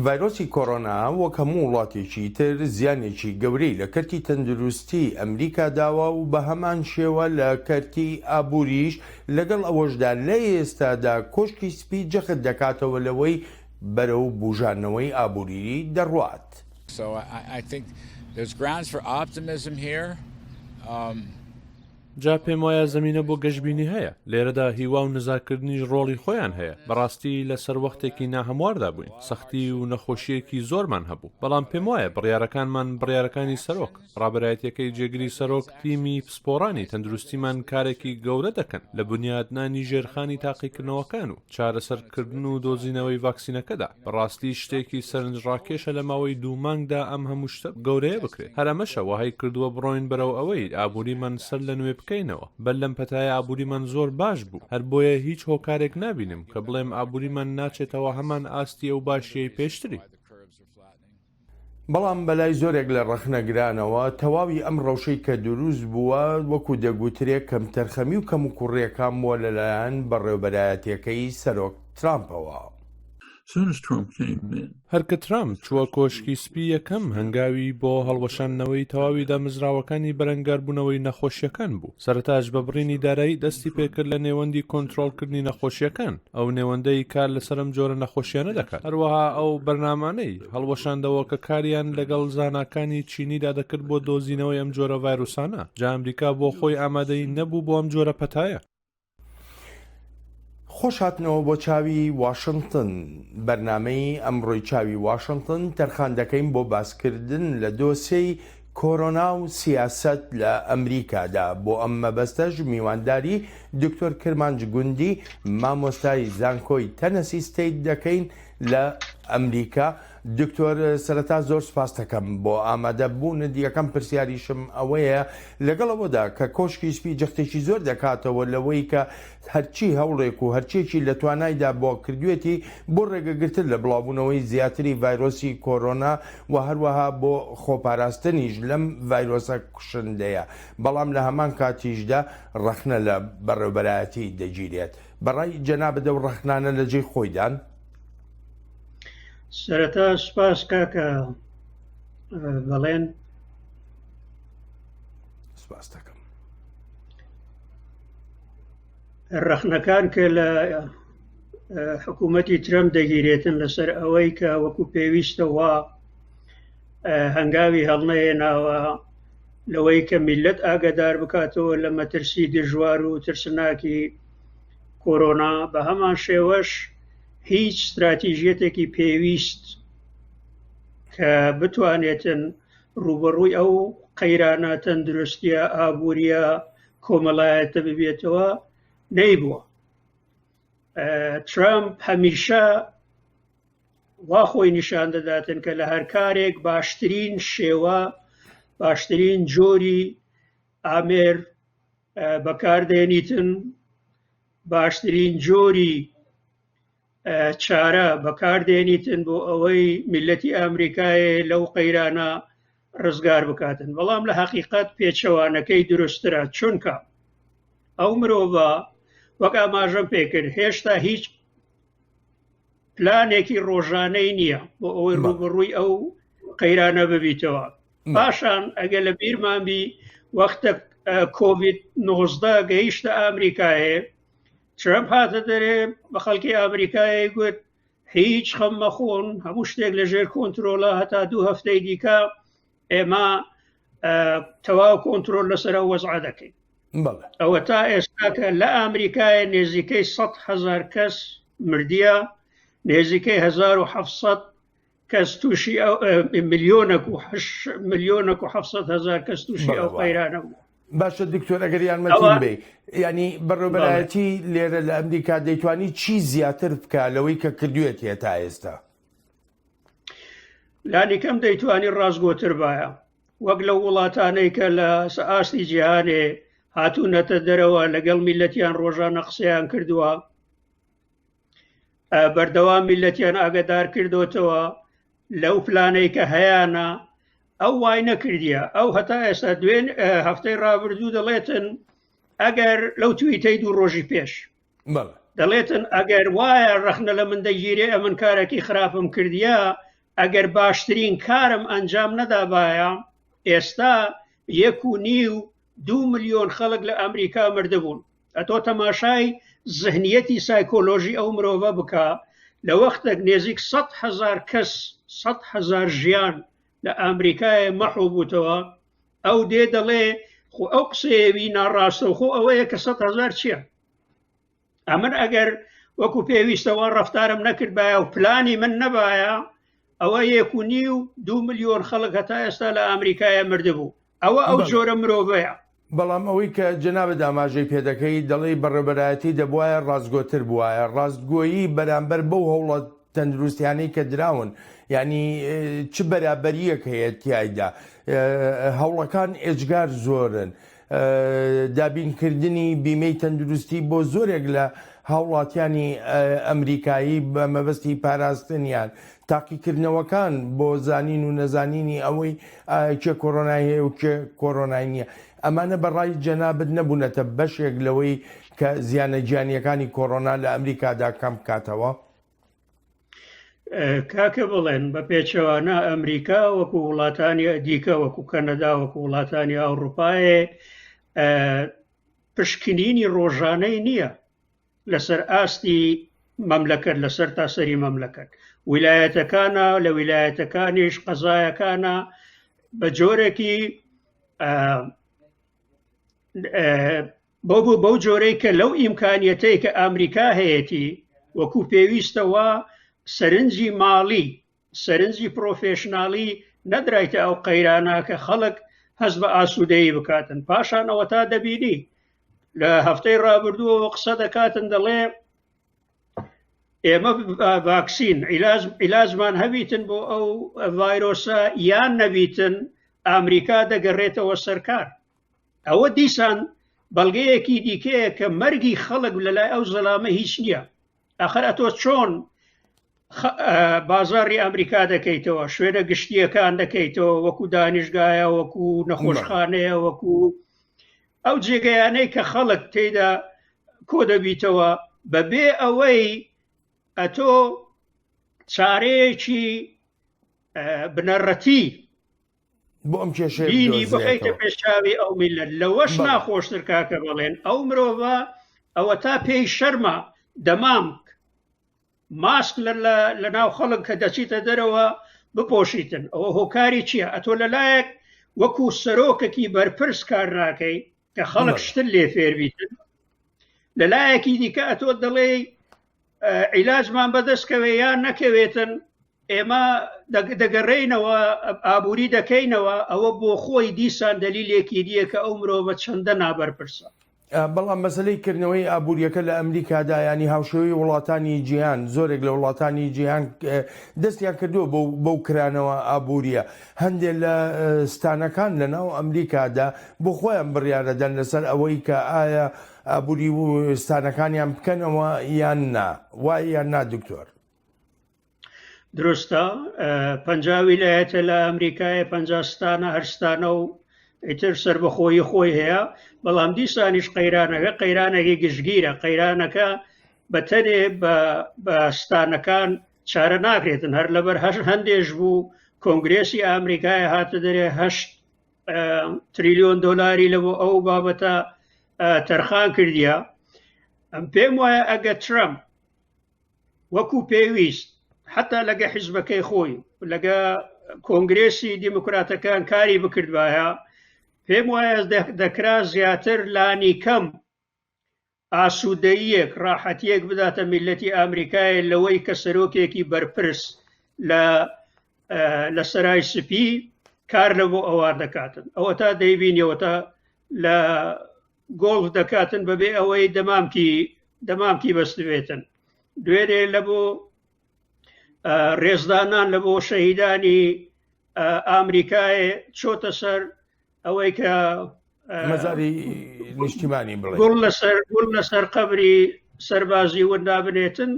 ڤایرۆسی کۆرۆنا وەک هەموو وڵاتێکی تر زیانێکی گەورەی لە کەرتی تەندروستی ئەمریکا داوە و بە هەمان شێوە لە کەرتی ئابووریش لەگەڵ ئەوەشدا لە ئێستادا کۆشکی سپی جەخت دەکاتەوە لەوەی بەرەو بوژانەوەی ئابوری دەڕوات. جا پێم وایە زەمینە بۆ گەشبینی هەیە، لێرەدا هیوا و نزاکردنیش ڕۆڵی خۆیان هەیە، بەڕاستی لە سەروەختێکی ناهەمواردا بووین، سەختی و نەخۆشییەکی زۆرمان هەبوو، بەڵام پێم وایە بڕیارەکانمان، بڕیارەکانی سەرۆک، ڕابەرایەتیەکەی جێگری سەرۆک، تیمی پسپۆڕانی تەندروستیمان کارێکی گەورە دەکەن لە بنیاتنانی ژێرخانی تاقیکردنەوەکان و چارەسەرکردن و دۆزینەوەی ڤاکسینەکەدا، بەڕاستی شتێکی سەرنجڕاکێشە لە ماوەی دوو مانگدا ئەم هەموو شتە گەورەیە بکرێت، هەر ئەمەشە وەهای کردووە بڕۆین بەرەو ئەوەی ئابووریمان سەرلەنوێ بکەینەوە، بەر لەم پەتایە ئابووریمان زۆر باش بوو، هەر بۆیە هیچ هۆکارێک نابینم کە بڵێم ئابووریمان ناچێتەوە هەمان ئاستی ئەو باشییەی پێشتری. بەڵام بەلای زۆرێک لە ڕەخنەگرانەوە، تەواوی ئەم ڕەوشەی کە دروست بووە، وەکو دەگوترێ کەمتەرخەمی و کەموکوڕییەکان بووە لەلایەن بەڕێوبەرایەتییەکەی سەرۆک ترامپەوە. هەر کە ترامپ چووە کۆشکی سپی یەکەم هەنگاوی بۆ هەڵوەشاندنەوەی تەواوی دامەزراوەکانی بەرەنگاربوونەوەی نەخۆشییەکان بوو، سەرەتاش بە بڕینی دارایی دەستی پێکرد لە نێوەندی کۆنترۆڵکردنی نەخۆشییەکان، ئەو نێوەندەی کار لەسەر ئەم جۆرە نەخۆشیانە دەکات هەروەها ئەو بەرنامانەی هەڵوەشاندەوە کە کاریان لەگەڵ زاناکانی چینیدا دەکرد بۆ دۆزینەوەی ئەم جۆرە ڤایرۆسانە جا ئەمریکا بۆ خۆی ئامادەی نەبوو بۆ ئەم جۆرە پەتایە خۆش هاتنەوە بۆ چاوی واشنتن بەرنمەی ئەمڕۆی چاوی واشنتن تەرخان دەکەین بۆ باسکردن لە دۆسێی کۆرۆنا و سیاسەت لە ئەمریکادا، بۆ ئەم مەبەستەش میوانداری دکتۆر کرمانج گوندی مامۆستای زانکۆی تەنەسی ستەیت دەکەین لە ئەمریکا، دکتۆر سەرەتا زۆر سپاستەکەم بۆ ئامادە بوونت، یەکەم پرسیاریشم ئەوەیە لەگەڵ ئەوەدا کە کۆشکی سپی جەختێکی زۆر دەکاتەوە لەوەی کە هەرچی هەوڵێک و هەرچیەکی لە توانایدا بوە کردوێتی بۆ ڕێگەگرتن لە بڵاوبونەوەی زیاتری ڤایرۆسی کۆرۆنا و هەروەها بۆ خۆپاراستنیش لەم ڤایرۆسە کوشندەیە بەڵام لە هەمان کاتیشدا ڕەخنە لە بەڕێوبەرایەتی دەگیرێت بەڕای جەنابت ئەو ڕەخنانە لە جێی خۆیدان؟ سەرەتا سپاس کاکە بەڵێن سپاس دەکەم ڕەخنەکان کە لە حکوومەتی ترەم دەگیرێتن لەسەر ئەوەی کە وەکو پێویستەوە هەنگاوی هەڵنەهێناوە لەوەی کە میلەت ئاگدار بکاتەوە لە مەترسی دژوار و ترسناکی کۆرۆنا بە هەمان شێوەش هیچ استراتیژیەتێکی پێویست کە بتوانێتن ڕوبەڕووی ئەو قەیرانە تەندروستە ئابوووریە کۆمەڵایەتە ببێتەوە نەیبووە ترامپ هەمیشە وا خۆی نیشان دەداتن کە لە هەر کارێک باشترین شێوە باشترین جۆری ئامێر بەکاردێنیتن باشترین جۆری چارە بەکاردێنیتن بۆ ئەوەی میلەتی ئامریکایە لەو قەیرانە ڕزگار بکاتن بەڵام لە حقیقت پێچەوانەکەی دروسترە چونکە ئەو مرۆڤە وەک ئاماژەم پێکرد هێشتا هیچ پلانێکی ڕۆژانەی نییە بۆ ئەوەی ڕوبڕووی ئەو قەیرانە ببیتەوە پاشان ئەگە لە بیرمان بی وەختە کۆڤید 19 گەیشتە ئامریکایە ترەمپ هاتە دەرێ بە خەڵکی ئامریکای گوت هیچ خەم مەخۆن هەموو شتێک لەژێر کۆنتترۆلە هەتا دوو هەفتەی دیکە ئێمە تەواو کۆنتترۆل لەسرە وەزعا دەکەین ئەوە تا ئێستاکە لە ئامریکای نێزیکەی 100 هزار کەس مردە نێزیکەی 1970 کەس تووشی ملیۆنە و ملیۆنە و حەفسەد هزار کەس تووشی ئەو قەیرانە بوو باشە دکتۆر ئەگەر یارمەتیم بێ ینی بەڕێبەرایەتی لێرە لە ئەمریکا دەیتوانی چی زیاتر بکە لەوەی کە کردوێت هێ تا ئێستا لانیکەم دەیتوانی ڕاستگۆتر باە وەک لە وڵاتانەی کە لە ئاستی جیهانێ هاتوونەتە دەرەوە لەگەڵ میلەتیان ڕۆژانە قسەیان کردووە بەردەوام میلەتیان ئاگدار کردوتەوە لەو پلانەی کە هەیەە ئەو وای نەکردە ئەو هەتا ئێستا دوێن هەفتەی ڕابردوو دەڵێتن ئەگەر لەو تویتەی دوو ڕۆژی پێش دەڵێتن ئەگەر وایە ڕەخنە لە من دەگیرێ ئەمن کارێکی خراپم کردە ئەگەر باشترین کارم ئەنجام نەدابایە ئێستا یەک و نی و دو ملیۆن خەڵک لە ئەمریکا مردبوون ئەتۆ تەماشای زهنیەتی سایکۆلۆژی ئەو مرۆڤە بکە لە وەختێک نێزیک 100 هزار کەس 100 هزار ژیان لە ئەمریکای مەحو بووتەوە ئەو دێ دەڵێ خۆ ئەو قسەیەوی ناڕاستەوخۆ ئەوەیە کە 100 هزار چییە ئەمن ئەگەر وەکو پێویستەوە ڕفتارم نەکردبایە و پلانی من نەبایە ئەوە یەکونی و دو ملیۆن خەڵک هەتا ئێستا لە ئەمریکایە مردبوو ئەوە ئەو جۆرە مرۆڤەیە بەڵام ئەوەی کە جەنابە داماژەی پێدەکەی دەڵی بەڕێبەرایەتی دەبواە ڕاستگۆتر بواە ڕاستگۆیی بەرامبەر بەو هەوڵە تەندروستیانی کە دراون ینی چ بەرابەریەک هەیە تایدا هەوڵەکان ئێجگار زۆرن. دابینکردنی بیمەی تەندروستی بۆ زۆرێک لە هاوڵاتیانی ئەمریکایی بە مەبەستی پاراستنیان تاقیکردنەوەکان بۆ زانین و نەزانینی ئەوەی ئایا کێ کۆرۆنای هەیە و کێ کۆرۆنای نییە، ئەمانە بە ڕای جەنابت نەبوونەتە بەشێک لەوەی کە زیانە گیانییەکانی کۆرۆنا لە ئەمریکادا کەم بکاتەوە؟ کاکە بەڵێن، بە پێچەوانە ئەمریکا وەکو وڵاتانی دیکە وەکو کەنەدا وەکو وڵاتانی ئەوروپایێ پشکنینی ڕۆژانەی نییە لەسەر ئاستی مەملەکەت لەسەر تاسەری مەملەکەت ویلایەتەکانە لە ویلایەتەکانیش قەزایەکانە بە جۆرێکی بۆ بوو بەو جۆرەی کە لەو ئیمکانیەتەی کە ئەمریکا هەیەی وەکو پێویستەوە سەرنجی ماڵی سەرنجی پرۆفێشناڵی نەدرایتە ئەو قەیرانە کە خەڵک هەست بە ئاسوودەیی بکاتن پاشان ئەوە تا دەبینی لە هەفتەی ڕابردووەوە قسە دەکاتن دەڵێ ئێمە ڤاکسین عیلازمان هەبیتن بۆ ئەو ڤایرۆسە یان نەبیتن ئامریکا دەگەڕێتەوە سەرکار ئەوە دیسان بەڵگەیەکی دیکەیە کە مەرگی خەڵک لەلای ئەو زەلامە هیچ نییە ئەخر ئەتۆ چۆن بازاری ئەمریکا دەکەیتەوە شوێنە گشتیەکان دەکەیتەوە وەکو دانیشگایە وەکو نەخۆشخانەیە وەکو ئەو جێگەیانەی کە خەڵک تێدا کۆ دەبیتەوە بەبێ ئەوەی ئەتۆ چارەیەکی بنەڕەتی بۆ ئەم کێشێ بینی بخیتە پێشاوی ئەو میلەت لەوەش ناخۆشتر کاکە بەڵێن ئەو مرۆڤە ئەوە تا پێی شەرمە دەمام ماسک لە ناو خەڵک کە دەچیتە دەرەوە بپۆشیتن ئەوە هۆکاری چییە ئەتۆ لەلایەک وەکو سەرۆکەکی بەرپرس کار ناکەی کە خەڵک شتر لێ فێربیتن لەلایەکی دیکە ئەتۆ دەڵێ عیلاجمان بەدەستکەوێ یان نەکەوێتن ئێمە دەگەڕێینەوە ئابووری دەکەینەوە ئەوە بۆ خۆی دیسان دەلیلێکی دیە کە ئەو مرۆڤە چەندە نابەرپرسە بەڵام مەسلەی کردنەوەی ئابوووریەکە لە ئەمریکادا ینی هاوشێوەی وڵاتانی جیهان زۆرێک لە وڵاتانی جیهان دەستیان کردووە بەو کرانەوە ئابوووریە هەندێ لە ستانەکان لە ناو ئەمریکادا بۆ خۆیان بڕیاەدەن لەسەر ئەوەی کە ئایا ئابووری و ستانەکانیان بکەنەوە یان نا وایە نا دکتۆر دروستە پ ویلایەتە لە ئەمریکای پ ستانە هەرستانە و ئیتر سربەخۆی خۆی هەیە بەڵام دیسانیش قەیرانەکە قەیرانێکی گشتگیرە قەیرانەکە بەتەنێ بە ستانەکان چارە ناکرێتن هەر لەبەر هەش هەندێش بوو کۆنگرێسی ئامریکای هاتە دەرێ هەشت تریلیۆن دلاری لە بۆ ئەو بابەتە تەرخان کردیە ئەم پێم وایە ئەگە ترەمپ وەکو پێویست حتا لەگە حیزبەکەی خۆی لەگە کۆنگرێسی دیموکراتەکان کاری بکردبایە پێم وایە دەکرا زیاتر لانی کەم ئاسوودەیەک ڕاحەتیەک بداتە میلەتی ئامریکای لەوەی کە سەرۆکێکی بەرپرس لە لە سەرای سپی کار لە بۆ ئەوە دەکاتن ئەوە تا دەیبینیەوە تا لە گۆڵف دەکاتن بەبێ ئەوەی دەمامکی دەمامکی بەستبێتن دوێنێ لە بۆ ڕێزدانان لە بۆ شەهیدانی ئامریکای چۆتە سەر ئەوەی کە مەزاری نیشتیمانی بڵێ گوڵ لەسەر گوڵ لەسەر قبری سەربازی وندا بنێتن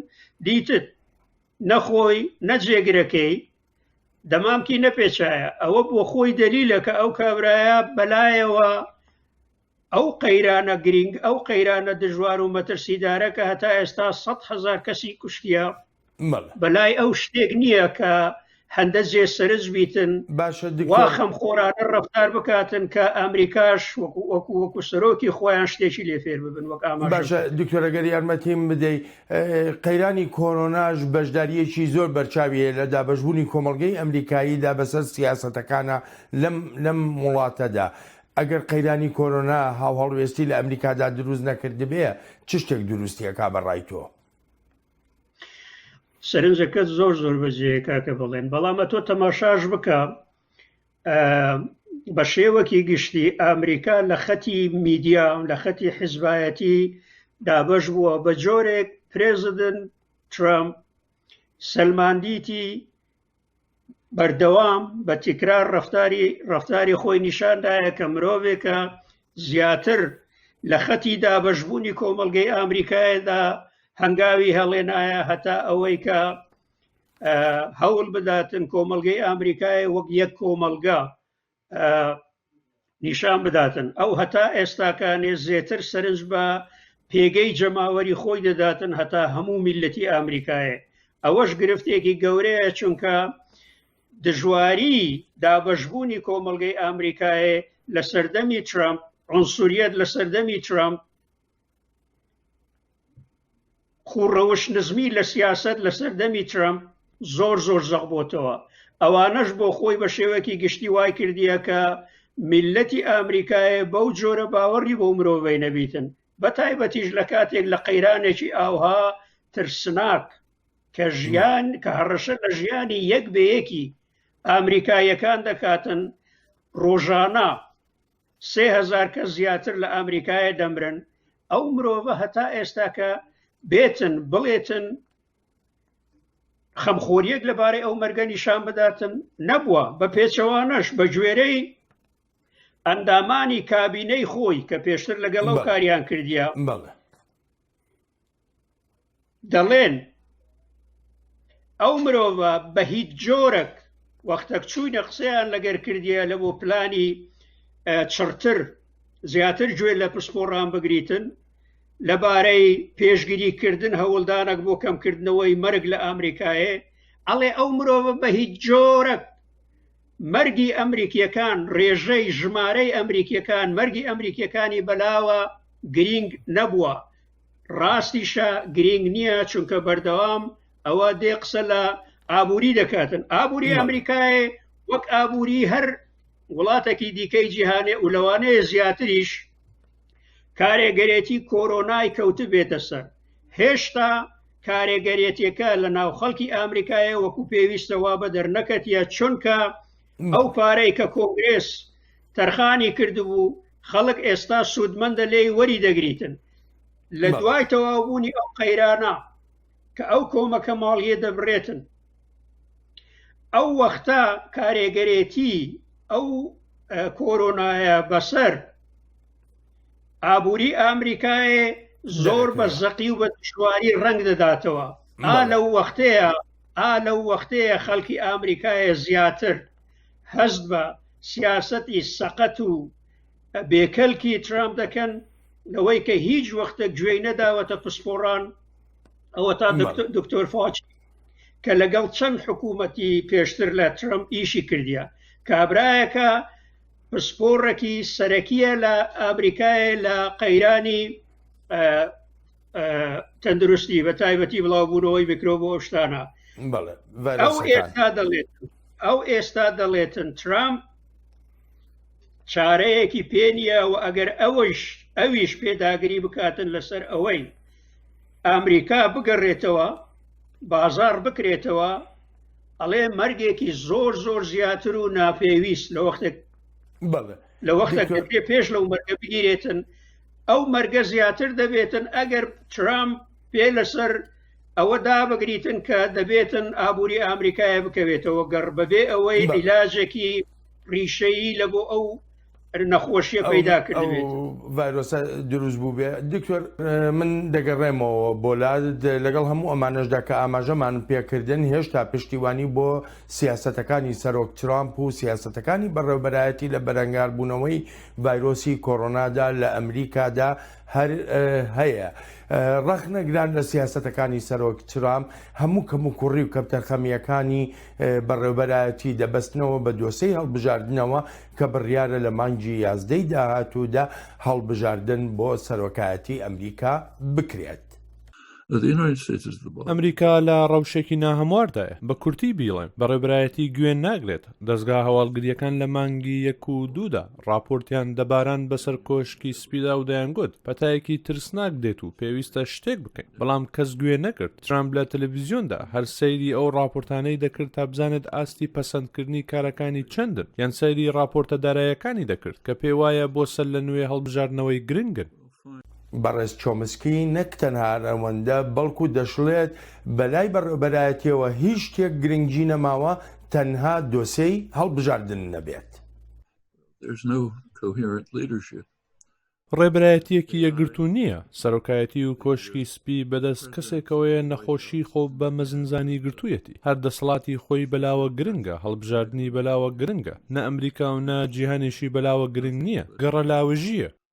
دیتت نەخۆی نەجێگرەکەی دەمامکی نەپێچایە ئەوە بۆ خۆی دەلیلە کە ئەو کابرایە بەلایەوە ئەو قەیرانە گرنگ ئەو قەیرانە دژوار و مەترسیدارە کە هەتا ئێستا 100 هزار کەسی کوشتە بەلای ئەو شتێک نییە کە هەندە جێ سرج بیتن باشە واخەم خۆرانە ڕفتار بکاتن کە ئەمریکاش وەکو وەکو وەکو سەرۆکی خۆیان شتێکی لێ فێر ببن وەک باشە دکتۆرەگەر یارمەتیم بدەیت قەیرانی کۆرۆناش بەشدارییەکی زۆر بەرچاوی هەیە لە دابەشبوونی کۆمەڵگەی ئەمریکاییدا بەسەر سیاسەتەکانە لەم وڵاتەدا. ئەگەر قەیرانی کۆرۆنا هاوهەڵوێستی لە ئەمریکادا دروست نەکردبێ، چ شتێک دروستی ئەکا بە ڕای تۆ؟ سەرنجەکەت زۆر زۆر بەجێیە کاکە بەڵێن، بەڵام ئەتۆ تەماشاش بکە بە شێوەکی گشتی ئەمریکا لە خەتی میدیا و لە خەتی حزبایەتی دابش بووە بە جۆرێک پرێزدن ترامپ سلماندیتی بەردەوام بە تیکرار ڕفتاری ڕفتاری خۆی نیشاندایە کە مرۆڤێکە زیاتر لە خەتی دابشبوونی کۆمەلگەی ئامریکایەدا هەنگاوی هەڵێنایە هەتا ئەوەی کە هەوڵ بداتن کۆمەلگەی ئامریکای وەک یەک کۆمەلگا نیشان بداتن ئەو هەتا ئێستاکانێ زێتر سەرنج بە پێگەی جەماوەری خۆی دەداتن هەتا هەموو میلەتی ئامریکایە ئەوەش گرفتێکی گەورەیە چونکە دژواری دابەشبوونی کۆمەلگەی ئامریکایە لە سەردەمی ترامپ عنسوریت لە سەردەمی ترامپ خوڕەوش نزمی لە سیاست لە سەردەمی ترامپ زۆر زۆر زەق بۆتەوە ئەوانەش بۆ خۆی بە شێوەکی گشتی وای کردیە کە میلەتی ئامریکایە بەو جۆرە باوەڕی بۆ مرۆڤەی نەبیتن بە تایبەتیش لە کاتێک لە قەیرانێکی ئاوها ترسناک کە ژیان کە هەڕەشە لە ژیانی یەک بەیەکی ئامریکایەکان دەکاتن ڕۆژانە سێ هەزار کەس زیاتر لە ئامریکایە دەمرن ئەو مرۆڤە هەتا ئێستاکە بێتن بڵێتن خەمخۆریەک لەبارەی ئەو مەرگە نیشان بداتن نەبووە بە پێچەوانەش بە گوێرەی ئەندامانی کابینەی خۆی کە پێشتر لەگەڵ ئەو کاریان کردیە دەڵێن ئەو مرۆڤە بە هیچ جۆرەک وەختەک چووینە قسەیان لەگەر کردیە لە بۆ پلانی چڕتر زیاتر گوێ لە پسپۆڕان بگریتن لەبارەی پێشگیری کردن هەوڵدانەک بۆ کەمکردنەوەی مەرگ لە ئامریکایە ئەڵێ ئەو مرۆڤە بە هیچ جۆرەک مەرگی ئەمریکیەکان ڕێژەی ژمارەی ئەمریکیەکان مەرگی ئەمریکیەکانی بەلاوە گرینگ نەبووە ڕاستیشە گرنگ نییە چونکە بەردەوام ئەوە دێ قسە لە ئابووری دەکاتن ئابووری ئەمریکای وەک ئابووری هەر وڵاتێکی دیکەی جیهانێ و لەوانەیە زیاتریش کارێگەرێتی کۆرۆنای کەوت بێتە سەر هێشتا کارێگەرێتیەکە لە ناو خەڵکی ئامریکایە وەکو پێویستەوە بە دەرنەکەتە چونکە ئەو پارەی کە کۆنگرێس تەرخانی کردبوو خەڵک ئێستا سوودمەندە لێی وەری دەگریتن لە دوای تەواوبوونی ئەو قەیرانە کە ئەو کۆمەکە ماڵیە دەبرێتن ئەو وەختە کارێگەرێتی ئەو کۆرۆنایە بەسەر ئابووری ئامریکایە زۆر بە زەقی و بە دشواری ڕنگ دەداتەوە ئا لەو وەختەیە ئا لەو وەختەیە خەڵکی ئامریکایە زیاتر هەست بە سیاسەتی سەقەت و بێکەلکی ترامپ دەکەن لەوەی کە هیچ وەختە گوێی نەداوەتە پسپۆڕان ئەوە تا دکتۆر فاچ کە لەگەڵ چەند حکوومەتی پێشتر لە ترمپ ئیشی کردیە کابراایەکە پسپۆڕێکی سەرەکیە لە ئامریکای لە قەیرانی تەندروستی بە تایبەتی بڵاوبوونەوەی میکرۆ بۆ شتانە ئەو ئێستا دەڵێت ئەو ئێستا دەڵێتن ترامپ چارەیەکی پێ نییە و ئەگەر ئەوەیش ئەویش پێداگری بکاتن لەسەر ئەوەی ئەمریکا بگەڕێتەوە بازار بکرێتەوە ئەڵێ مەرگێکی زۆر زۆر زیاتر و ناپێویست لە وەختێک لە وەختێک پێش لەو مەرگە بگیرێتن ئەو مەرگە زیاتر دەبێتن ئەگەر ترامپ پێ لەسەر ئەوە دابگریتن کە دەبێتن ئابووری ئامریکایە بکەوێتەوە گەڕ بەبێ ئەوەی عیلاجێکی ریشەیی لە بۆ ئەو نەخۆشیە پەیدا کردێت ڤایرۆسە دروست بوو بێ دکتۆر من دەگەڕێمەوە بۆ لا لەگەڵ هەموو ئەمانەشدا کە ئاماژەمان پێکردن هێشتا پشتیوانی بۆ سیاستەکانی سەرۆک ترامپ و سیاستەکانی بەڕێوبەرایەتی لە بەرەنگاربوونەوەی ڤایرۆسی کۆرۆنادا لە ئەمریکادا هەر هەیە. ڕەخنەگران لە سیاسەتەکانی سەرۆک ترامپ، هەموو کەموکوڕی و کەپتەرخەمییەکانی بەڕێوەبەرایەتی دەبەستنەوە بە دۆسێی هەڵبژاردنەوە کە بڕیارە لە مانگی یازدەی داهاتوودا هەڵبژاردن بۆ سەرۆکایەتی ئەمریکا بکرێت. ئەمریکا لە ڕەوشێکی ناهەمواردایە بە کورتی بیڵێم بە ڕێبرایەتی گوێن ناگرێت دەستگا هەواڵگریەکان لە مانگی یەک و دوودا ڕاپۆرتیان دەباران بەسەر کۆشکی سپیدا و دەیانگوت پەتایەکی ترسناک دێت و پێویستە شتێک بکەین بەڵام کەس گوێ نەکرد ترامپ لە تەلەڤیزیۆندا هەر سەیری ئەو ڕاپۆرتانەی دەکرد تا بزانێت ئاستی پەسەندکردنی کارەکانی چەندن یان سەیری ڕاپۆرتە دارایەکانی دەکرد کە پێوایە بۆ سەر لە نوێ هەڵبژاردنەوەی گرنگن بەڕێز چۆمسکی نەک تەنها ئەوەندە بەڵکو دەشڵێت بەلای بەڕێوەبەرایەتیەوە هیچ شتێک گرنگی نەماوە تەنها دۆسێی هەڵبژاردن نەبێت. ڕێبەرایەتیەکی یەکگرتوو نییە، سەرۆکایەتی و کۆشکی سپی بەدەست کەسێکەوەیە نەخۆشی خۆ بە مەزنزانی گرتوویەتی، هەر دەسەڵاتی خۆی بەلاوە گرنگە، هەڵبژاردنی بەلاوە گرنگە، نە ئەمریکا و نە جیهانێشی بەلاوە گرنگ نییە، گەڕەلاوژییە.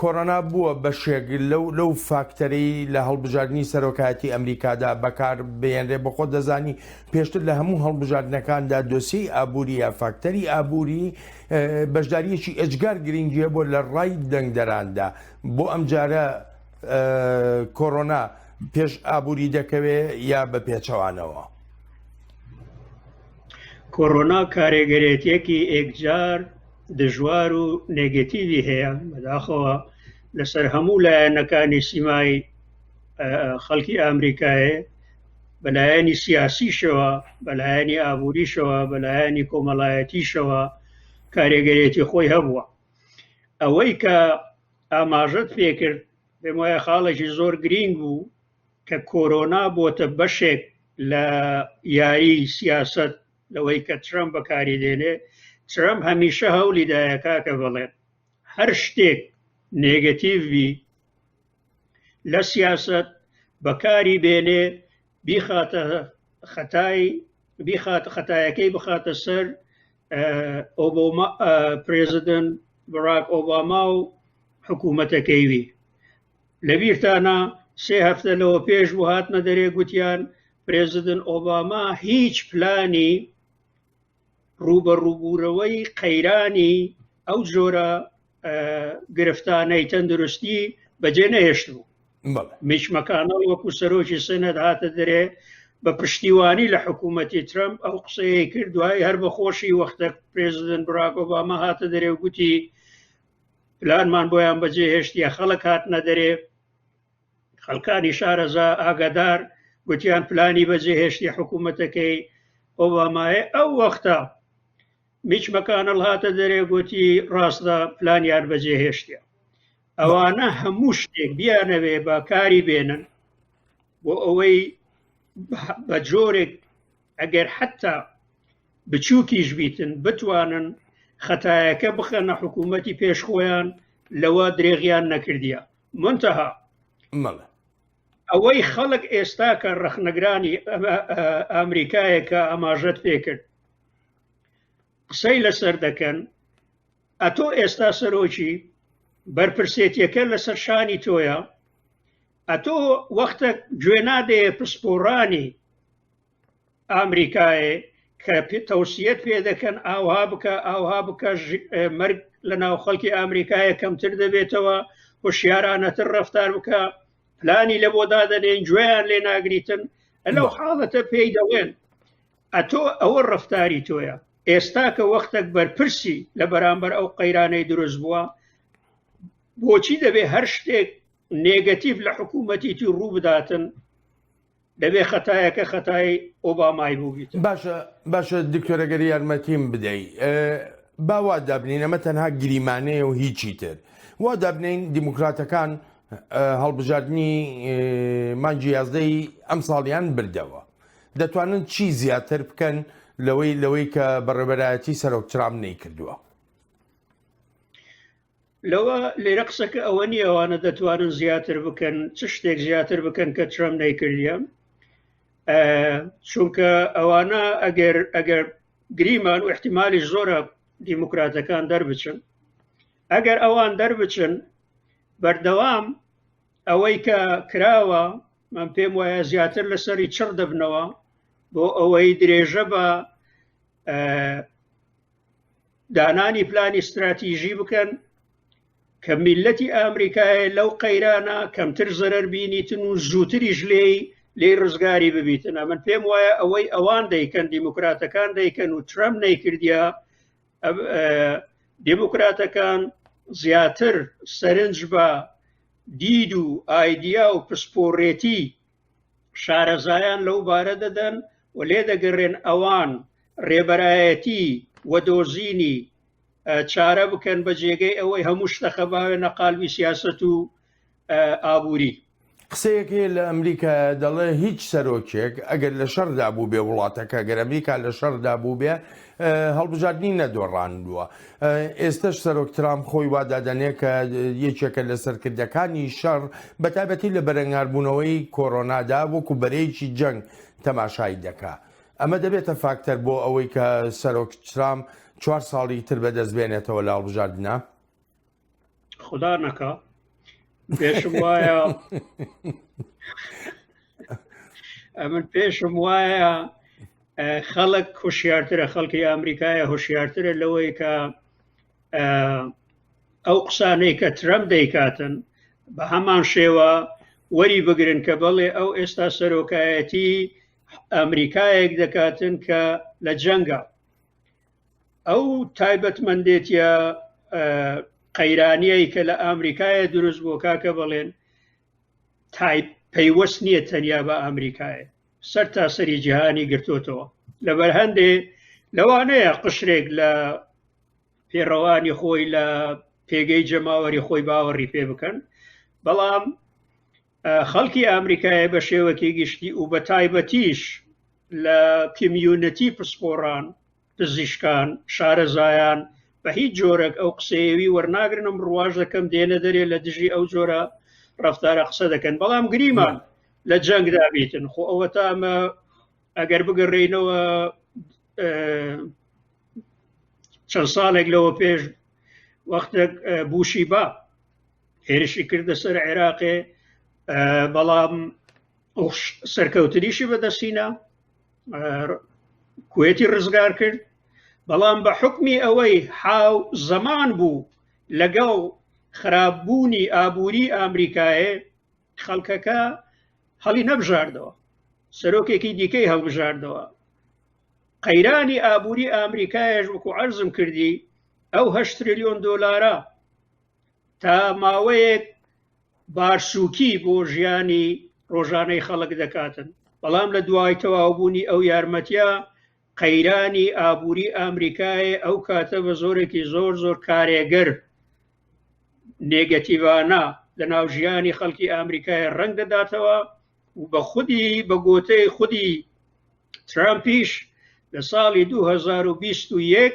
کۆرۆنا بووە بەشێک لەو فاکتەرەی لە هەڵبژاردنی سەرۆکایەتی ئەمریکادا بەکار بهێنرێ بۆ خۆت دەزانی پێشتر لە هەموو هەڵبژاردنەکاندا دۆسیەی ئابووری یا فاکتەری ئابووری بەشداریەکی ئەجگار گرنگیە بۆ لە ڕای دەنگدەراندا بۆ ئەم جارە کۆرۆنا پێش ئابووری دەکەوێ یا بە پێچەوانەوە کۆرۆنا کارێگەرێتیەکی ئێکجار دژوار و نێگەتیوی هەیە بەداخەوە لەسەر هەموو لایەنەکانی سیمای خەڵکی ئامریکایە بەلایەنی سیاسیشەوە بەلایەنی ئابووریشەوە بەلایەنی کۆمەڵایەتیشەوە کارێگەرێتی خۆی هەبووە ئەوەی کە ئاماژت پێکرد پێم وایە خاڵێکی زۆر گرینگ بوو کە کۆرۆنا بۆتە بەشێک لە یاری سیاست لەوەی کە ترەمپ بەکاری دێنێ ترەمپ هەمیشە هەولی دایە کاکە بەڵێن هەر شتێک نێگەتیڤ بی لە سیاست بەکاری بێنێ بیخاتە خەتای بیخات خەتایەکەی بخاتە سەر ئۆبۆما پرێزیدنت بڕاک ئۆباما و حکوومەتەکەیوی لەبیرتانە سێ هەفتە لەوە پێش بوو هاتنە دەرێ گوتیان پرێزیدنت ئۆباما هیچ پلانی ڕووبەڕووبوورەوەی قەیرانی ئەو جۆرە گرفتانەی تەندروستی بەجێ نەهێشت بوو میچمەکانە وەکو سەرۆکی سەنەت هاتە دەرێ بە پشتیوانی لە حکوومەتی ترمپ ئەو قسەیە کرد دوای هەر بەخۆشی وەختە پرێزیدنت براکۆبامە هاتە دەرێ و گوتی پلانمان بۆیان بەجێ هێشتە خەڵک هاتنە دەرێ خەڵکانی شارەزا ئاگادار گوتیان پلانی بەجێهێشتی حکوومەتەکەی ئۆبامایە ئەو وەختە میچ مەکانەڵ هاتە دەرێ گوتی ڕاستە پلانیان بەجێهێشتە ئەوانە هەموو شتێک بیانەوێ بە کاری بێنن بۆ ئەوەی بە جۆرێک ئەگەر حتا بچووکیش بیتن بتوانن خەتایەکە بخەنە حکوومەتی پێشخۆیان لەوە درێغیان نەکردیە منتەها مەڵە ئەوەی خەڵک ئێستا کە ڕەخنەگرانی ئەمریکایەکە ئاماژەت پێکرد قسەی لەسەر دەکەن ئەتۆ ئێستا سەرۆکی بەرپرسێتیەکە لەسەر شانی تۆیە ئەتۆ وەختە گوێ نادەیە پسپۆڕانی ئامریکایە کە تەوسیەت پێ دەکەن ئاوها بکە ئاوها بکە مەرگ لە ناو خەڵکی ئامریکایە کەمتر دەبێتەوە هۆشیارانەتر ڕفتار بکە پلانی لە بۆ دادەنێن گوێیان لێ ناگریتن لەو حاڵەتە پێی دەڵێن ئەتۆ ئەوە ڕفتاری تۆیە ئێستا کە وەختێک بەرپرسی لە بەرامبەر ئەو قەیرانەی دروست بووە بۆچی دەبێ هەر شتێک نێگەتیف لە حکوومەتیتی ڕوو بداتن دەبێ خەتایەکە خەتای ئۆبامای بووبیت باشە باشە دکتۆرەگەری یارمەتیم بدەی باوا دابنین ئەمە تەنها گریمانەیە و هیچی تر وا دابنین دیموکراتەکان هەڵبژاردننی مانجی یازدەی ئەم ساڵیان بردەوە دەتوانن چی زیاتر بکەن لەوەی لەوەی کە بەڕێبەرایەتی سەرۆک ترام نەی کردووە لەوە لێرە قسەکە ئەوە نیە ئەوانە دەتوانن زیاتر بکەن چ شتێک زیاتر بکەن کە ترەم نەیکردە چونکە ئەوانە ئەگەر ئەگەر گریمان و احتیممالی زۆرە دیموکراتەکان دەربچن ئەگەر ئەوان دەربچن بەردەوام ئەوەی کە کراوە من پێم وایە زیاتر لەسەری چڕ دەبنەوە بۆ ئەوەی درێژە بە دانانی پلانی استراتیژی بکەن کە میلەتی ئەمریکایە لەو قەیرانە کەمتر زەرەر بینیتن و زووتریش لێی لێ ڕزگاری ببیتن ئەمن پێم وایە ئەوەی ئەوان دەیکەن دیموکراتەکان دەیکەن و ترەم نەیکردیا دیموکراتەکان زیاتر سەرنج بە دید و ئایدیا و پسپۆڕێتی شارەزایان لەو بارە دەدەن و لێ دەگەڕێن ئەوان ڕێبەرایەتی و دۆزینی چارە بکەن بە جێگەی ئەوەی هەموو شتەخە باوێ نەقالبی سیاست و ئابووری قسەیەکێ لە ئەمریکا دەڵێ هیچ سەرۆکێک ئەگەر لە شەردا بوو بێ وڵاتەکە گەر ئەمریکا لە شەردا بوو بێ هەڵبژاردنی نەدۆڕاندووە. ئێستەش سەرۆک ترامپ خۆی وادادەنێ کە یەکێکە لە سەرکردەکانی شەڕ بە تایبەتی لە بەرەنگاربوونەوەی کۆرۆنادا وەکو بەرەیەکی جەنگ تەماشای دەکا. ئەمە دەبێتە فاکتەر بۆ ئەوەی کە سەرۆک ترامپ چوار ساڵی تر بەدەست بێنێتەوە لە هەڵبژاردنە خدا نەکا پێشم وایە ئەمن پێشم وایە خەڵک هۆشیارترە خەڵکی ئەمریکایە هۆشیارترە لەوەی کە ئەو قسانەی کە ترەم دەیکاتن بە هەمان شێوە وەری بگرن کە بەڵێ ئەو ئێستا سەرۆکایەتی ئەمریکایەک دەکاتن کە لە جەنگە ئەو تایبەتمەندێتە قەیرانیایی کە لە ئامریکایە دروست بۆ کاکە بەڵێن تایپ پەیوەست نییە تەنیا بە ئامریکایە سەر تا سەری جیهانی گرتوتەوە لەبەر هەندێ لەوانەیە قشرێک لە پێڕەوانی خۆی لە پێگەی جەماوەری خۆی باوەڕی پێ بکەن بەڵام خەڵکی ئامریکایە بە شێوەکی گشتی و بە تایبەتیش لە کمیونەتی پسپۆڕان پزیشکان شارەزایان بە هیچ جۆرەك ئەو قسەیەوی وەرناگرنم ڕواژ دەکەم دێنە دەرێ لە دژی ئەو جۆرە ڕفتارە قسە دەکەن بەڵام گریمان لە جەنگ دابیتن خۆ ئەوە تا ئەمە ئەگەر بگەڕێینەوە چەند ساڵێک لەوە پێش وەختێک بوشی با هێرشی کردە سەر عێراقێ بەڵام سەرکەوتنیشی بەدەستینا کوێتی ڕزگار کرد بەڵام بە حکمی ئەوەی حاو زەمان بوو لەگەڵ خراپبوونی ئابووری ئامریکایە خەڵکەکە هەڵی نەبژاردەوە سەرۆکێکی دیکەی هەڵبژاردەوە قەیرانی ئابووری ئامریکایش وەکو عرضم کردی ئەو هەشتریلیۆن دۆلارە تا ماوەیەک بارسووکی بۆ ژیانی ڕۆژانەی خەڵک دەکاتن بەڵام لە دوای تەواوبوونی ئەو یارمەتیە قەیرانی ئابووری ئامریکایە ئەو کاتە بە زۆرێکی زۆر زۆر کارێگەر نێگەتیڤانە لە ناو ژیانی خەڵکی ئامریکای ڕنگ دەداتەوە و بە خودی بە گۆتەی خودی ترامپیش لە ساڵی 2021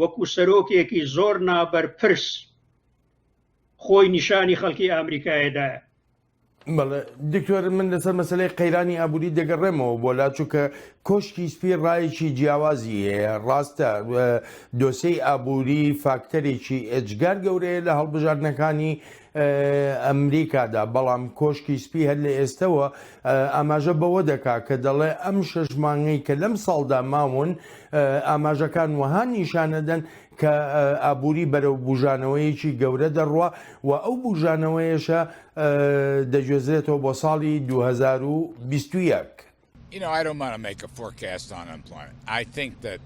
وەکو سەرۆکێکی زۆر نابەرپرس خۆی نیشانی خەڵکی ئامریکایەدایە بەڵێ دکتۆر من لەسەر مەسلەی قەیرانی ئابووری دەگەڕێمەوە بۆ لا چووکە کۆشکی سپی ڕایەکی جیاوازی هەیە ڕاستە دۆسەی ئابووری فاکتەرێکی ئێجگار گەورەیە لە هەڵبژاردنەکانی ئەمریکادا، بەڵام کۆشکی سپی هەر لە ئێستەوە ئاماژە بەوە دەکات کە دەڵێ ئەم شەش مانگەی کە لەم ساڵدا ماون ئاماژەکان وەها نیشانەدەن کە ئابووری بەرەو بوژانەوەیەکی گەورە دەڕوا و ئەو بوژانەوەیەشە دەگوێزرێتەوە بۆ ساڵی 2021. You know, I don't want to make a forecast on unemployment. I think that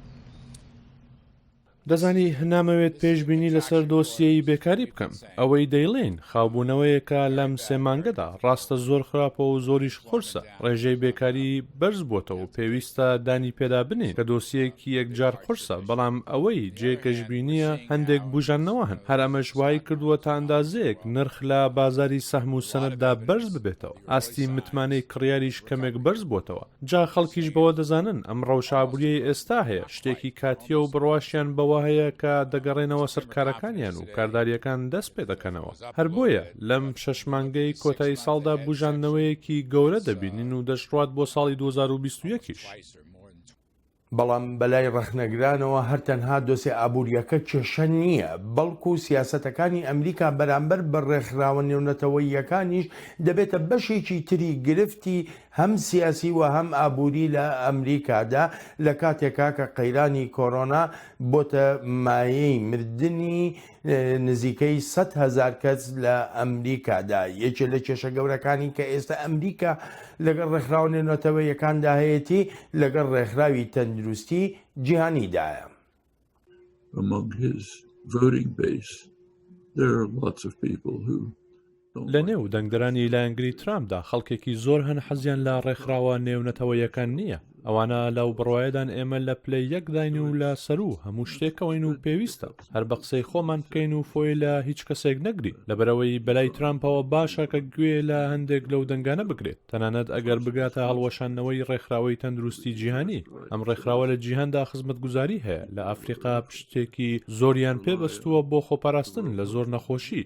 دەزانی نامەوێت پێشبینی لەسەر دۆسیەی بێکاری بکەم، ئەوەی دەیڵێین خاوبوونەوەیەکە لەم سێ مانگەدا، ڕاستە زۆر خراپە و زۆریش قورسە، ڕێژەی بێکاری بەرز بۆتە و پێویستە دانی پێدا بنێین کە دۆسیەیەکی یەکجار قورسە، بەڵام ئەوەی جێ گەشبینییە هەندێک بوژاندنەوە هەن، هەر ئەمەش وایکردووە تا ئەندازەیەک نرخ لە بازاری سەهم و سەنەددا بەرز ببێتەوە، ئاستی متمانەی کڕیاریش کەمێک بەرز بۆتەوە. جا خەڵکیش بەوە دەزانن ئەم ڕەوشە ئابووریەی ئێستا هەیە شتێکی کاتییە و بڕواشیان بەوە هەیە کە دەگەڕێنەوە سەر کارەکانیان و کاردارییەکان دەست پێ دەکەنەوە هەر بۆیە لەم شەش مانگەی کۆتایی ساڵدا بووژاندنەوەیەکی گەورە دەبینین و دەشڕوات بۆ ساڵی دوو هەزار و بیست و یەک یش. بەڵام بەلای ڕەخنەگرانەوە هەر تەنها دۆسێ ئابوورییەکە کێشە نییە، بەڵکو سیاسەتەکانی ئەمریکا بەرامبەر بە ڕێکخراوە نێونەتەوەییەکانیش دەبێتە بەشێکی تری گرفتی هەم سیاسی و هەم ئابووری لە ئەمریکادا لە کاتێکا کە قەیرانی کۆرۆنا بۆتە مایەی مردنی نزیکەی سەد هەزار کەس لە ئەمریکادا یەکێ لە کێشە گەورەکانی کە ئێستا ئەمریکا لەگەڵ ڕێکخراوە نێونەتەوەیەکاندا هەیەتی لەگەڵ ڕێکخراوی تەندروستی جیهانیدایە. among his voting base there are lots of people who لە نێو دەنگدەرانی لایەنگری ترامپدا خەڵکێکی زۆر هەن حەزیان لە ڕێکخراوە نێونەتەوەیەکان نییە ئەوانە لەو بڕواایەدان ئێمە لە پلەی یەکداین و لە سەرو هەموو شتێکەوەین و پێویستە هەر بە قسەی خۆمان بکەین و فۆی لە هیچ کەسێک نەگری لەبەرەوەی بەلای ترامپەوە باشە کە گوێ لە هەندێک لەو دەنگانە بگرێت تەنانەت ئەگەر بگاتە هەڵوەشاندنەوەی ڕێکخراوەی تەندروستی جیهانی ئەم ڕێکخراوە لە جیهاندا خزمەت گوزاری هەیە لە ئەفریقا پشتێکی زۆریان پێبەستووە بۆ خۆپاراستن لە زۆر نەخۆشی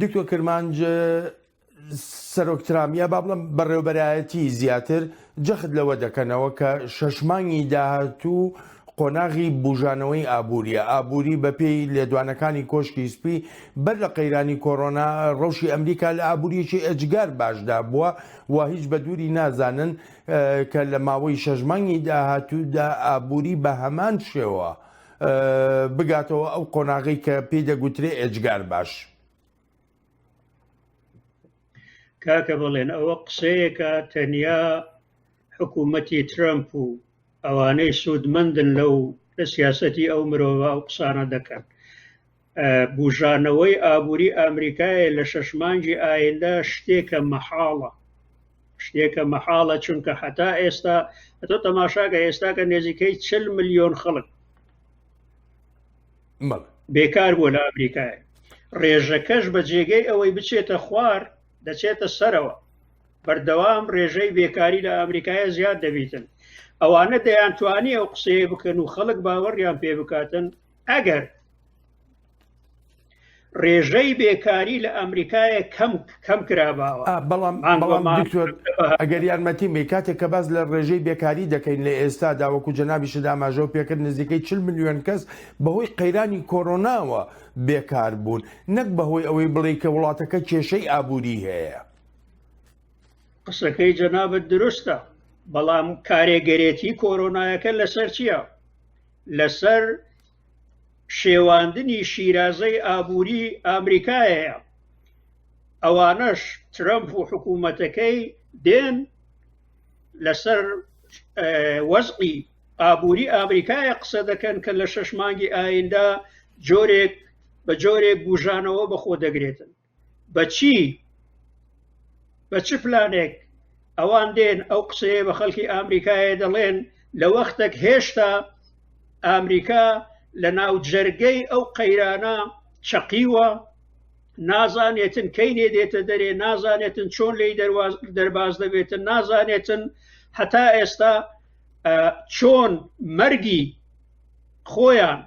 دکتۆر کرمانج سەرۆک ترام یا با بڵم بەڕێوبەرایەتی زیاتر جەخت لەوە دەکەنەوە کە شەش مانگی داهاتوو قۆناغی بژانەوەی ئابووریە ئابووری بەپێی لێدوانەکانی کۆشکی سپی بەر لە قەیرانی کۆرۆنا ڕەوشی ئەمریکا لە ئابووریەکی ئەجگار باشدا بووە و هیچ بە دووری نازانن کە لە ماوەی شەژمانگی داهاتوودا ئابووری بە هەمان شێوە بگاتەوە ئەو قۆناغی کە پێی دەگوترێ ئێجگار باش. کاکە بڵێن ئەوە قسەیەکە تەنیا حکوومەتی ترەمپ و ئەوانەی سوودمەندن لەو لە سیاسەتی ئەو مرۆڤ و قسانە دەکەن بوژانەوەی ئابوری ئامریکایە لە شەش مانگی ئایندە شتێکە مەحاڵە شتێکە مەحاڵە چونکە هەتا ئێستا ئەتۆ تەماشاکە ئێستاکە نێزیکەی چل ملیۆن خەڵک بێکار بووە لە ئەمریکای ڕێژەکەش بە جێگەی ئەوەی بچێتە خوار دەچێتە سەرەوە بەردەوام ڕێژەی بێکاری لە ئەمریکایە زیاد دەبیتن ئەوانە دەیان توانی ئەو قسەیە بکەن و خەڵک باوەڕیان پێ بکاتن ئەگەر ڕێژەی بێکاری لە ئەمریکایە کەم کەم کراباوە بەڵام ئەگەر یارمەتی می کاتێک کە باز لە ڕێژەی بێکاری دەکەین لە ئێستا داوەکو جەنابی شداماژەوە پێکرد نزیکەی چل میلیۆن کەس بەهۆی قەیرانی کۆرۆناوە بێکار بوون نەک بەهۆی ئەوەی بڵێ کە وڵاتەکە کێشەی ئابووری هەیە قسەکەی جەنابەت دروستە بەڵام کارێگەرێتی کۆرۆنایەکە لەسەر چییە؟ لەسەر شێواندنی شیرازەی ئابووری ئامریکایەیە ئەوانەش ترەمپ و حکوومەتەکەی دێن لەسەر وەزقی ئابووری ئامریکایە قسە دەکەن کە لە شەش مانگی ئایندا جۆرێک بە جۆرێک گوژانەوە بەخۆ دەگرێتن بە چی بە چ پلانێک ئەوان دێن ئەو قسەیە بە خەڵکی ئامریکایە دەڵێن لە وەختێک هێشتا ئامریکا لە ناو جەرگەی ئەو قەیرانە چەقیوە نازانێتن کەی نێ دێتە دەرێ نازانێتن چۆن لی دەرباز دەبێتن نازانێتن هەتا ئێستا چۆن مەرگی خۆیان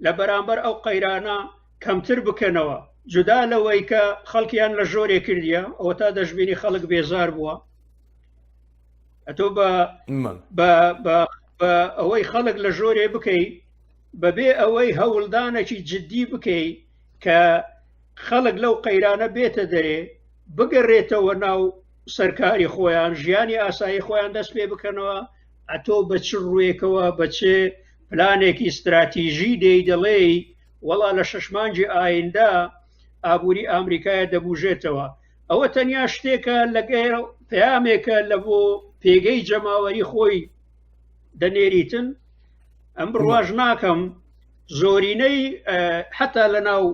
لە بەرامبەر ئەو قەیرانە کەمتر بکەنەوە جودا لەوەی کە خەڵکیان لە ژۆرێ کردیە ئەوە تا دەشببینی خەڵک بێزار بووە ئەتۆ بە ئەوەی خەڵک لە ژۆرێ بکەی بەبێ ئەوەی هەوڵدانێکی جددی بکەی کە خەڵک لەو قەیرانە بێتە دەرێ بگەڕێتەوە ناو سەرکاری خۆیان ژیانی ئاسایی خۆیان دەست پێ بکەنەوە ئەتۆ بە چ ڕوویەکەوە بە چ پلانێکی استراتیژی دێی دەڵێی وەڵا لە شەشمانجی ئایندا ئابووری ئامریکایە دەبوژێتەوە ئەوە تەنیا شتێکە لەگەر پامێکە لە بۆ پێگەی جەماوەری خۆی دەنێریتن ئەم بڕواژ ناکەم زۆرینەی حتا لە ناو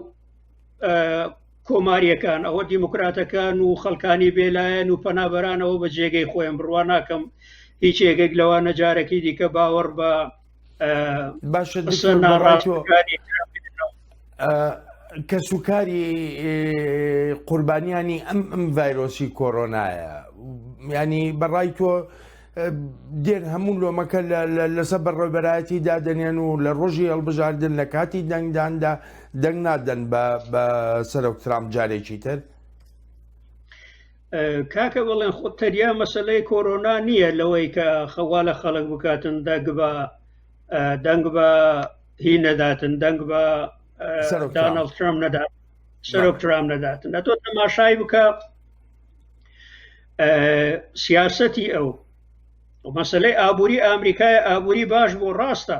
کۆماریەکان ئەوە دیموکراتەکان و خەڵکانی بێلایەن و پەنابەرانەوە بە جێگەی خۆیان بڕوا ناکەم هیچ یەکێک لەوە نەجارەکی دیکە باوەڕ بە باشە ناڕاستەکانی کەسوکاری قوربانیانی ئەم ئەم ڤایرۆسی کۆرۆنایە ینی بەڕای تۆ دێن هەموو لۆمەکە لەسەر بەڕێبەرایەتی دادەنێن و لە ڕۆژی هەڵبژاردن لە کاتی دەنگداندا دەنگ نادەن بە سەرۆک ترام جارێکی تر کاکە بڵێن خۆ تەریا مەسلەی کۆرۆنا نییە لەوەی کە خەوا لە خەڵک بکاتن دەنگ بە دەنگ بە هی نەداتن دەنگ بە دانڵ ترام نەدات سەرۆک ترام نەداتن ئە تۆ تەماشای بکە سیاسەتی ئەو مەسلەی ئابووری ئامریکای ئابووری باش بۆ ڕاستە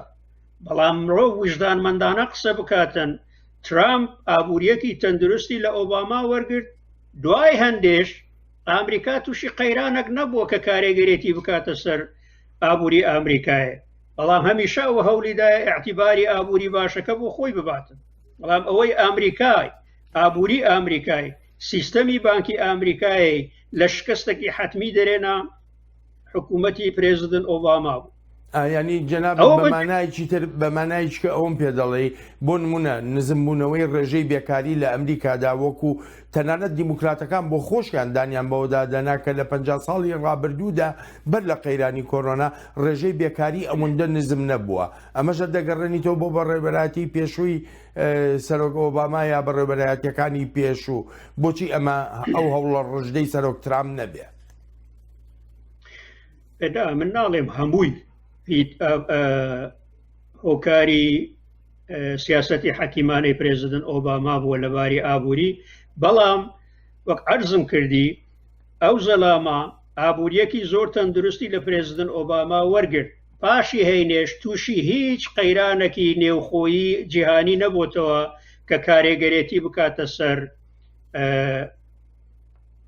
بەڵام مرۆ وژدانمەندانە قسە بکاتن ترامپ ئابووریەتی تەندروستی لە ئۆباما وەرگرت دوای هەندێش ئامریکا تووشی قەیرانەک نەبووە کە کارێگەرێتی بکاتە سەر ئابووری ئامریکایە بەڵام هەمیشە ئەو هەولیدا اعتیباری ئابووری باشەکە بۆ خۆی بباتن بەڵام ئەوەی ئامریکای ئابووری ئامریکای سیستەمی بانکی ئامریکای لە شکستەکی حەتمی دەرێنا حکوومەتی پرێزیدنت ئۆباما بوو ینی جەناب بەمانایکی تر بەمانایکە ئەوم پێ دەڵێ بۆ نمونە نزمبوونەوەی ڕێژەی بێکاری لە ئەمریکادا وەکو تەنانەت دیموکراتەکان بۆ خۆشیان دانیان بەوەدا دەنا کە لە پ ساڵی ڕابردوودا بەر لە قەیرانی کۆرۆنا ڕێژەی بێکاری ئەوەندە نزم نەبووە ئەمەشە دەگەڕێنیتەوە بۆ بەڕێبەراتی پێشووی سەرۆک ئۆباما یا بەڕێوبەرایەتیەکانی پێشوو بۆچی ئەمە ئەو هەوڵە ڕژدەی سەرۆک ترام نەبێت ئەدا من ناڵێم هەمووی هۆکاری سیاستی حەکیمانەی پرێزیدن ئۆباما بووە لەباری ئابووری بەڵام وەک ئەرزم کردی ئەو زەلاما ئابووریەکی زۆر تەندروستی لە پرێزیدن ئۆباما وەرگرت پاشی هەینێش تووشی هیچ قەیرانەکی نێوخۆیی جیهانی نەبووتەوە کە کارێگەرێتی بکاتە سەر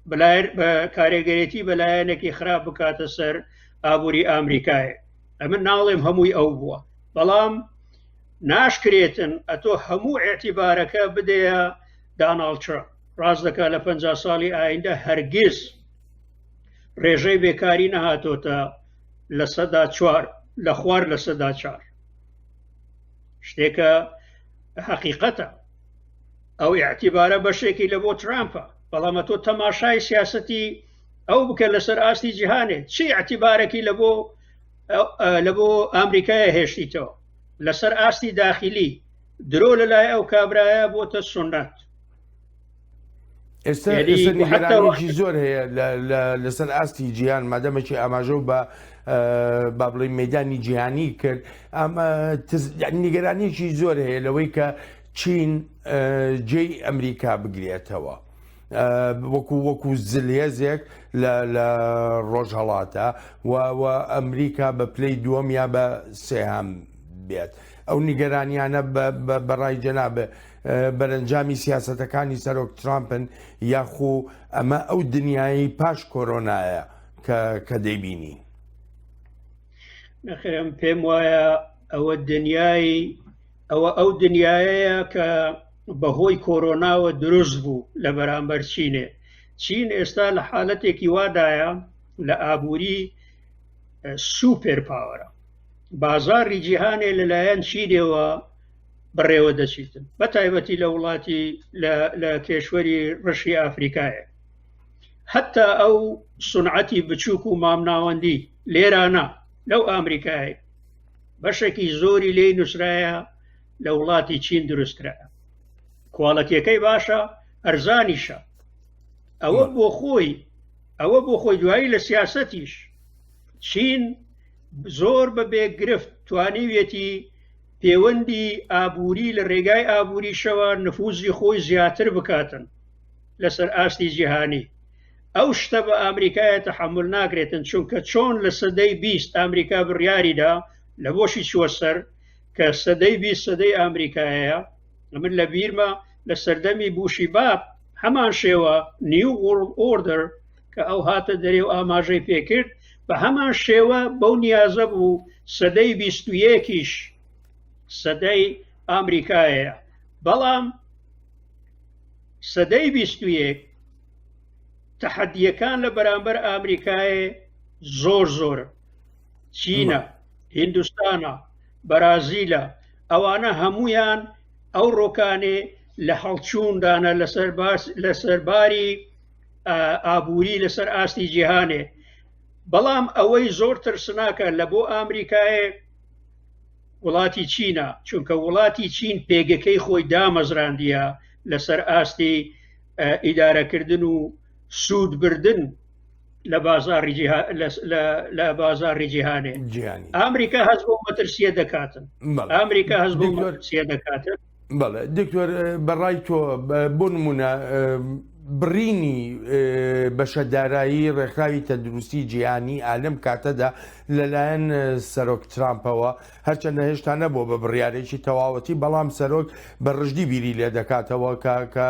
بلایر بە کارێگەرێتی بەلایەنێکی خراپ بکاتە سەر ئابووری ئامریکای ئەمە ناڵێم هەمووی ئەو بووە بەڵام ناشکرێتن ئەتۆ هەموو ئەتیبارەکە بدەیە داناڵچە ڕاست دەکا لە پ ساڵی ئایندە هەرگیز ڕێژەی بێکاری نەهاتۆتە لە سەدا چوار لە خوار لە سەدا چار شتێکە حقیقەتە ئەو اعتیبارە بەشێکی لە بۆ ترامپە بەڵامە تۆ تەماشای سیاستی ئەو بکە لەسەر ئاستی جیهانێ چی اعتیبارەکی لە بۆ لە بۆ ئەمریکایە هێشتیتەوە لەسەر ئاستی داخلی درۆ لەلای ئەو کابرایە بۆتە سنت ئێستا ئێستا نیگەرانێکی زۆر هەیە لەسەر ئاستی جیهان مادەمەکی ئاماژە بە با بڵێ مەدانی جیهانی کرد ئەمە نیگەرانێکی زۆر هەیە لەوەی کە چین جێی ئەمریکا بگرێتەوە. وەکو وەکو زلێزێک لە ڕۆژهڵاتە و ئەمریکا بە پلەی دووەم یا بە سێهام بێت ئەو نیگەرانیانە بەڕای جەنابێ بەرەنجامی سیاسەتەکانی سەرۆک ترامپن یاخو ئەمە ئەو دنیایی پاش کۆرۆنایە کە دەیبینین نەخێم پێم وایە ئەوە دنیایی ئەوە ئەو دنیایەیە کە بەهۆی کۆرۆناوە دروست بوو لە بەرامبەر چینێ چین ئێستا لە حالەتێکی وادایە لە ئابووری سوپێر پاوەرە بازاری جیهانێ لەلایەن چینەوە بەڕێوە دەچیتن بە تایبەتی لە وڵاتی لە کێشوەری ڕشی ئافریکایە حتا ئەو سونعەتی بچووک و مامناوەندی لێرانە لەو ئامریکای بەشێکی زۆری لێی نووسرایە لە وڵاتی چین دروستکرا کوالەتەکەی باشە ئەرزانیشە ئەوە بۆ خۆی ئەوە بۆ خۆی دوایی لە سیاسەتیش چین زۆر بە بێگرفت توانیویەتی پێوەندی ئابووری لە ڕێگای ئابووریشەوە نفوزی خۆی زیاتر بکاتن لەسەر ئاستی جیهانی ئەو شتە بە ئامریکایە تەحمل ناکرێتن چونکە چۆن لە سەدەی بیست ئامریکا بڕیاریدا لە بۆشی چوە سەر کە سەدەی بی سەدەی ئامریکایە من لە بیرمە لە سەردەمی بوشی باب هەمان شێوە نیو وڵ ئۆردر کە ئەو هاتە دەرێ و ئاماژەی پێکرد بە هەمان شێوە بەو نیازە بوو سەدەی بیستویەکیش سەدەی ئامریکایە بەڵام سەدەی بیستویەک تەحەدیەکان لە بەرامبەر ئامریکایە زۆر زۆر چینە هندستانە بەرازیلە ئەوانە هەمویان ئەو ڕۆکانێ لە هەڵچووندانە لەسەر باس لەسەرباری ئابووری لەسەر ئاستی جیهانێ بەڵام ئەوەی زۆر ترسناکە لە بۆ ئامریکایە وڵاتی چینە چونکە وڵاتی چین پێگەکەی خۆی دامەزراندیە لەسەر ئاستی ئیدارەکردن و سوودبردن لە بازاری لە بازاری جیهانێ ئامریکا هەز بۆ مەترسیە دەکاتن ئامریکا هەز بۆ مەترسیە دەکاتن بەڵێ دکتۆر بەڕای تۆ بۆ نمونە بڕینی بەشە دارایی ڕێکخراوی تەندروستی جیهانی ئالم کاتەدا لەلایەن سەرۆک ترامپەوە هەرچەندە هێشتا نەبوو بە بڕارێکی تەواوەتی بەڵام سەرۆک بە ڕژدی بیری لێ دەکاتەوە کە کە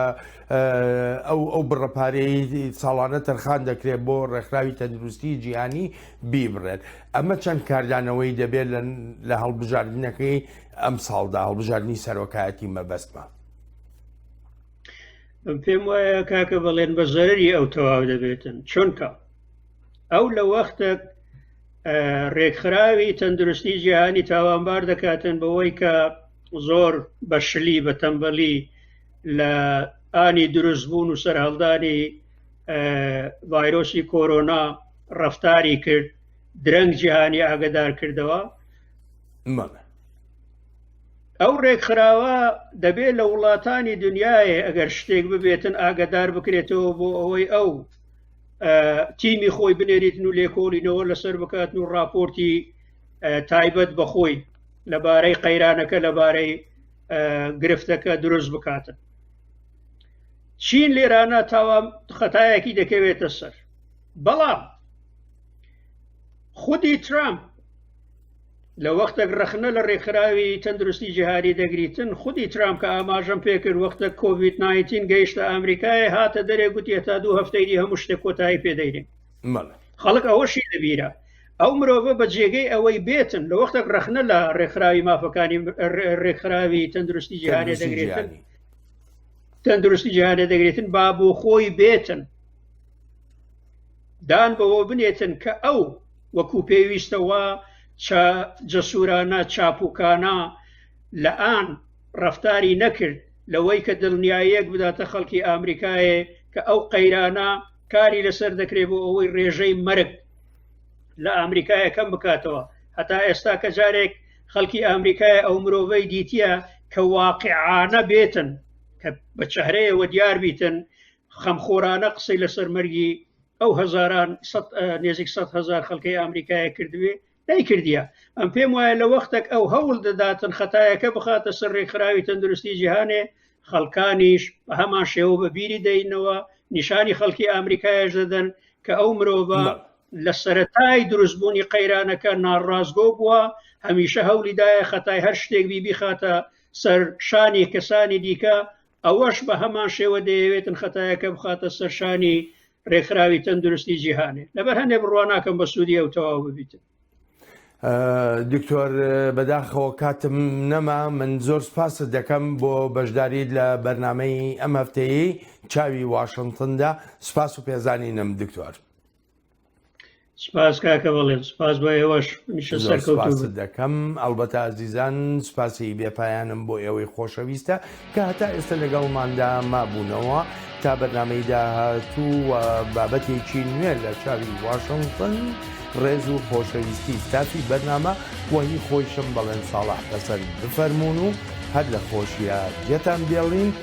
ئەو ئەو بڕەپارەی ساڵانە تەرخان دەکرێت بۆ ڕێکخراوی تەندروستی جیهانی بیبڕێت ئەمە چەند کاردانەوەی دەبێت لە هەڵبژاردنەکەی ئەمساڵدا هەڵبژاردنی سەرۆکایەتی مەبەستمە پێم وایە کاکە بەڵێن بە زەرری ئەو تەواو دەبێتن چونکە ئەو لە وەختە ڕێکخراوی تەندروستی جیهانی تاوانبار دەکاتن بەوەی کە زۆر بەشلی بە تەمبەلی لە ئانی دروست بوون و سەرهەڵدانی ڤایرۆسی کۆرۆنا ڕفتاری کرد درەنگ جیهانی ئاگدار کردەوە مەڵێ. ئەو ڕێکخراوە دەبێت لە وڵاتانی دنیاە ئەگەر شتێک ببێتن ئاگدار بکرێتەوە بۆ ئەوەی ئەو تیمی خۆی بنێریتن و لێکۆڵینەوە لەسەر بکات و راپۆرتی تایبەت بەخۆی لەبارەی قەیرانەکە لەبارەی گرفتەکە دروست بکاتن چین لێرانە تاوام خەتایەکی دەکەوێتە سەر بەڵام خودی ترامپ لە وەختێک ڕخنە لە ڕێکخراوی تەندروستی جیهاری دەگریتن خودی ترام کە ئاماژەم پێکرد وەختە کۆڤید 19 گەیشتە ئەمریکای هاتە دەرێ گوتی تا دوو هەفتەیدی هەموو شتێک کۆتایی پێدەین خەڵک ئەوەشی لەبیرە ئەو مرۆڤە بە جێگەی ئەوەی بێتن لە وەختێک ڕخنە لە ڕێکخراوی مافەکانی ڕێکخراوی تەندروستی جیهانێ دەگرێتن تەندروستی جیهانێ دەگرێتن باب و خۆی بێتن دان بەوە بنێتن کە ئەو وەکو پێویستەوە جەسورانە چاپوکانە لە ئان ڕفتاری نەکرد لەوەی کە دڵنیایەک بداتە خەڵکی ئامریکایە کە ئەو قەیرانە کاری لەسەر دەکرێت بۆ ئەوەی ڕێژەی مرگ لە ئامریکایە کەم بکاتەوە هەتا ئێستا کە جارێک خەڵکی ئامریکای ئەو مرۆڤەی دیتە کە واقعانە بێتن کە بە چهرەیەوە دیار بیتن خەمخۆرانە قسەی لەسەر مەرگی ئەو هزاران نێزیک سە هزار خەڵکەی ئەمریکایە کردوێ نەیکردە ئەم پێم وایە لە وەختێک ئەو هەوڵ دەداتن خەتایەکە بخاتە سەر ڕێکخراوی تەندروستی جیهانێ خەڵکانیش بە هەمان شێوە بە بیری دەینەوە نیشانی خەڵکی ئەمریکایش دەدەن کە ئەو مرۆڤە لە سەتای دروستبوونی قەیرانەکە ناڕاستگۆ بووە هەمیشە هەولیدایە خەتای هەر شتێک بیبی خاتە سەر شانی کەسانی دیکە ئەوەش بە هەمان شێوە دەیەوێتن خەتایەکە بخاتە سەرشانی ڕێکخراوی تەندروستی جیهانێ لەبەر هەندێک بڕوا ناکەم بە سوودی ئەو تەواو ببیتن دکتۆر بەداخەوە کاتم نەما من زۆر سپاست دەکەم بۆ بەشداریت لە بەرنمەی ئەم هەفتەیە چاوی واشنتندا سپاس و پێزانینم دکتۆر. سپاس کاکە بەڵێن سپاس بە ئێوەش میشە سەرکەوت دەکەم ئەڵبەتە ئازیزان سپاسی بێپایانم بۆ ئێوەی خۆشەویستە کە هەتا ئێستا لەگەڵماندا مابوونەوە تا بەرنمەی داهاتوو و بابەتێکی نوێ لە چاوی واشنگتن ڕێز و خۆشەویستی تاپی بەرنامە وەهی خۆیشم بەڵێن ساڵح حەسەن بفەرمونون و هەر لە خۆشیە جێتان بێڵین